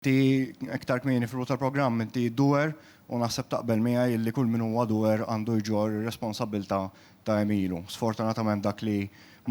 Inti iktar kmieni fil-bidu tal-programm inti doer u naħseb taqbel miegħi illi kull min huwa doer għandu jġorr ir-responsabbiltà ta' għemilu. Sfortunatament dak li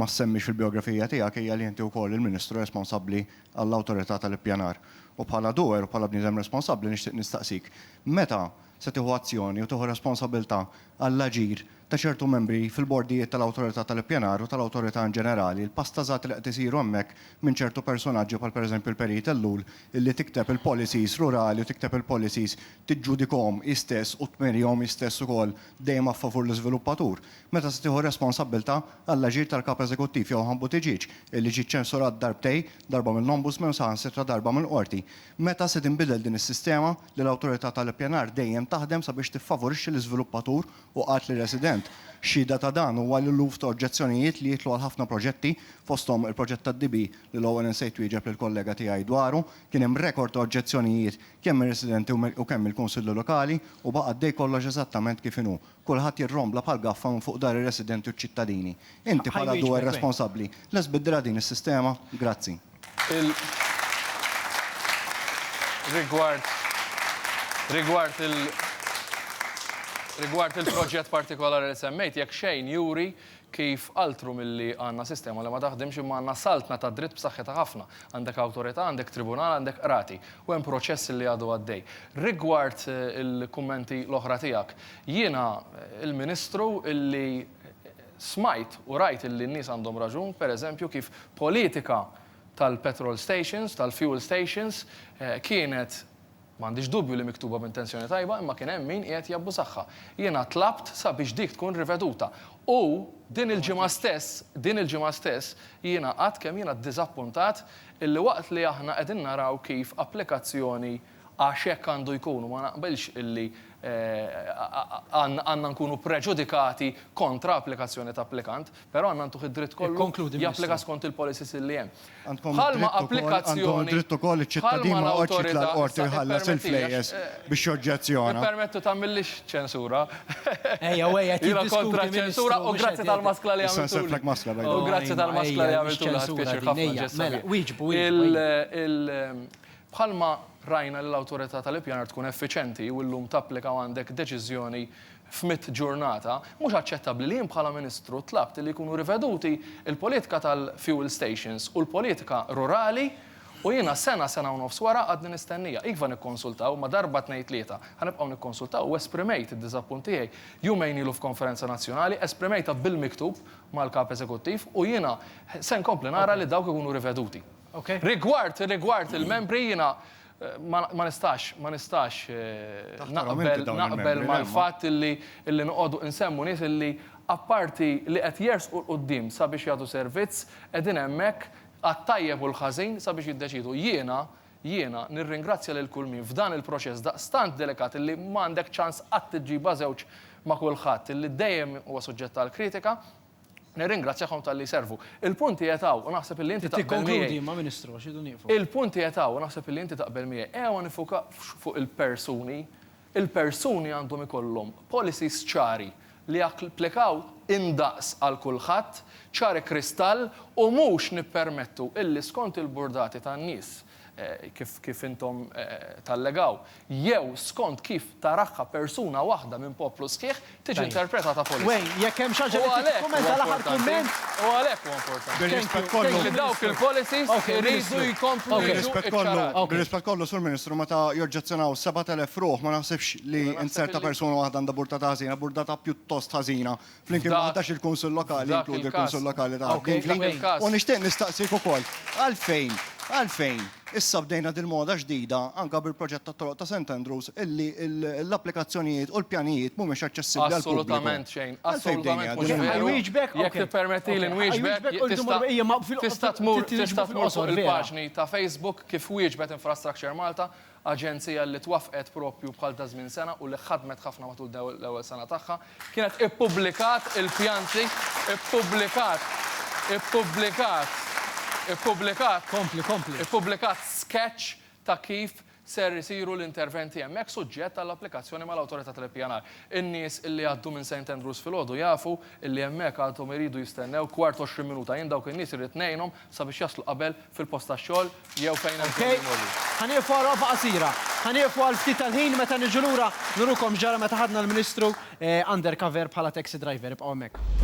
ma ssemmix fil-bijografija tiegħek hija li inti wkoll il-Ministru responsabbli għall-Awtorità tal-Ippjanar. U bħala doer u bħala bniedem responsabbli nixtieq nistaqsik, meta se tieħu azzjoni u tieħu responsabbiltà għall-aġir ta' ċertu membri fil-bordijiet tal-Awtorità tal-Ippjanar u tal-Awtorità in ġenerali, l-pastażati li qed isiru hemmhekk minn ċertu persunaġġi bħal pereżempju l-Perit Ellul illi tikteb il-policies rurali u tikteb il-policies tiġġudikahom hi stess u tmerihom hi stess ukoll dejjem a favur l-iżviluppatur. Meta se tieħu r-responsabbiltà għall-aġir tal-Kap Eżekuttiv jew Ħan Buttiġieġ illi ġie ċċensurat darbtej, darba mill-Ombudsman u saħansitra darba mill-Qorti? Meta se tinbidel din is-sistema li l-Awtorità tal-Ippjanar dejjem taħdem sabiex tiffavorixxi l-iżviluppatur u qalt li resident. Xhieda ta' dan huwa l-eluf ta' oġġezzjonijiet li jidħlu għal ħafna proġetti, fosthom il-proġett tad-DB li l-ewwel insejt twieġeb lill-kollega tiegħi dwaru. Kien hemm rekord ta' oġġezzjonijiet kemm mir-residenti u kemm mill-Kunsilli Lokali u baqa' għaddej kollox eżattament kif inhu. Kulħadd jirrombla bħal gaffa minn fuq dar ir-residenti u ċ-ċittadini. Inti bħala dwr responsabbli lest biddilha din is-sistema? Grazzi. Rigward il-proġett partikolari li semmejt, jekk xejn juri kif altru milli għandna sistema li ma taħdimx imma għandna saltna tad-dritt b'saħħitha ħafna. Għandek awtorità, għandek tribunal, għandek qrati. U hemm proċess li għadu għaddej. Rigward il-kummenti l-oħra tiegħek, jiena l-Ministru li Smajt u rajt illi n-nies għandhom raġun, per eżempju, kif politika tal-petrol stations, tal-fuel stations, kienet, m'għandix dubju li miktuba b'intenzjoni tajba, imma kien hemm min qiegħed jabbużagħha. Jiena tlabt sabiex dik tkun riveduta. U din il-ġimgħa stess, din il-ġimgħa stess, jiena għadt kemm jiena ddiżappuntat illi waqt li aħna qegħdin naraw kif applikazzjoni, Għax hekk għandu jkun u ma naqbilx li għandna nkunu preġudikati kontra applikazzjoni ta' applikant, però għandna ntuh id-dritt kollu japplika skont il-policies illi hemm. Bħalma applikazzjoni, bħalma l-awtorità, ippermettu tagħmillix ċensura, jiena kontra ċensura u grazzi tal-maskla li għamiltuli, u grazzi tal-maskla li għamiltuli, ħadt pjaċir ħafna ġestha tiegħek. Bħalma rajna li l-Awtorità tal-Ippjanar tkun effiċenti u llum tapplika u għandek deċiżjoni f'mitt ġurnata, mhux aċċettabbli li jien bħala Ministru tlabt li jkunu riveduti l-politika tal-fuel stations u l-politika rurali u jiena sena, sena u nofs wara għadni nistennija. Iva nikkonsultaw, imma darba tnejn tlieta ħa nibqgħu nikkonsultaw u esprimejt id-diżappunt tiegħi jumejn ilu f'konferenza nazzjonali, esprimejtha bil-miktub mal-Kap Eżekuttiv u jiena se nkompli nara li dawk ikunu riveduti. Rigward, rigward il-membri jiena ma nistax, ma nistax naqbel, naqbel mal-fatt illi, illi noqogħdu nsemmu nies illi apparti li qed jersqu 'l quddiem sabiex jagħtu servizz, qegħdin hemmhekk għat-tajjeb u l-ħażin sabiex jiddeċiedu. Jiena, jiena nirringrazzja lil kull min f'dan il-proċess daqstant delikat illi m'għandek ċans qatt iġġibha żewġ ma' kulħadd, illi dejjem huwa suġġett għall-kritika, Nirringrazzjahom talli jservu. Il-punt qiegħed hawn u naħseb illi inti taqbel miegħi. Tikkonkludi imma Ministru għax irridu nieqfu. Il-punt qiegħed hawn u naħseb illi inti taqbel miegħi. Ejja ma nifukawx fuq il-persuni. Il-persuni għandhom ikollhom policies ċari li japplikaw indaqs għal kulħadd, ċari kristall u mhux nippermettu illi skont il-burdati tan-nies kif intom tallegaw, jew skont kif taraha persuna waħda minn poplu sħiħ, tiġi interpretata politika. Flimkien ma' 11 il-Kunsill Lokali, jinkludi l-Kunsill Lokali ta' Għawdnili. U nixtieq nistaqsik ukoll għalfejn, għalfejn issa bdejna dil-moda ġdida anke bil-proġett tat-toroq ta' St. Andrews illi l-applikazzjonijiet u l-pjanijiet mhumiex aċċessibbli għall-pubbliku. Assolutament xejn, assolutament mhux veru. Jien ħajwieġbek, jekk tippermettili nwieġbek, tista' tmur fuq il-paġni ta' Facebook kif wieġbet Infrastructure Malta Aġenzija li twaffqet proprju bħal ta' żmien sena u li ħadmet ħafna matul l-ewwel sena tagħha, kienet ippubblikat il-pjanti, ippubblikat, ippubblikat, ippubblikat, Kompli, kompli. ippubblikat sketch ta' kif ser isiru l-interventi hemmhekk suġġett għall-applikazzjoni mal-Awtorità tal-Ippjanar. In-nies li għaddu minn St Andrews filgħodu jafu li hemmhekk għadhom iridu jistennew kwart għoxrin minuta. Jien dawk in-nies irrid ngħinhom sabiex jaslu qabel fil-post tax-xogħol jew fejn hemm bżonn imorru. Ok, ħa nieqfu għal waqfa qasira. Ħa nieqfu għal ftit tal-ħin, meta niġu lura nurukom x'ġara meta ħadna l-Ministru undercover bħala taxi driver. Ibqgħu hemmhekk.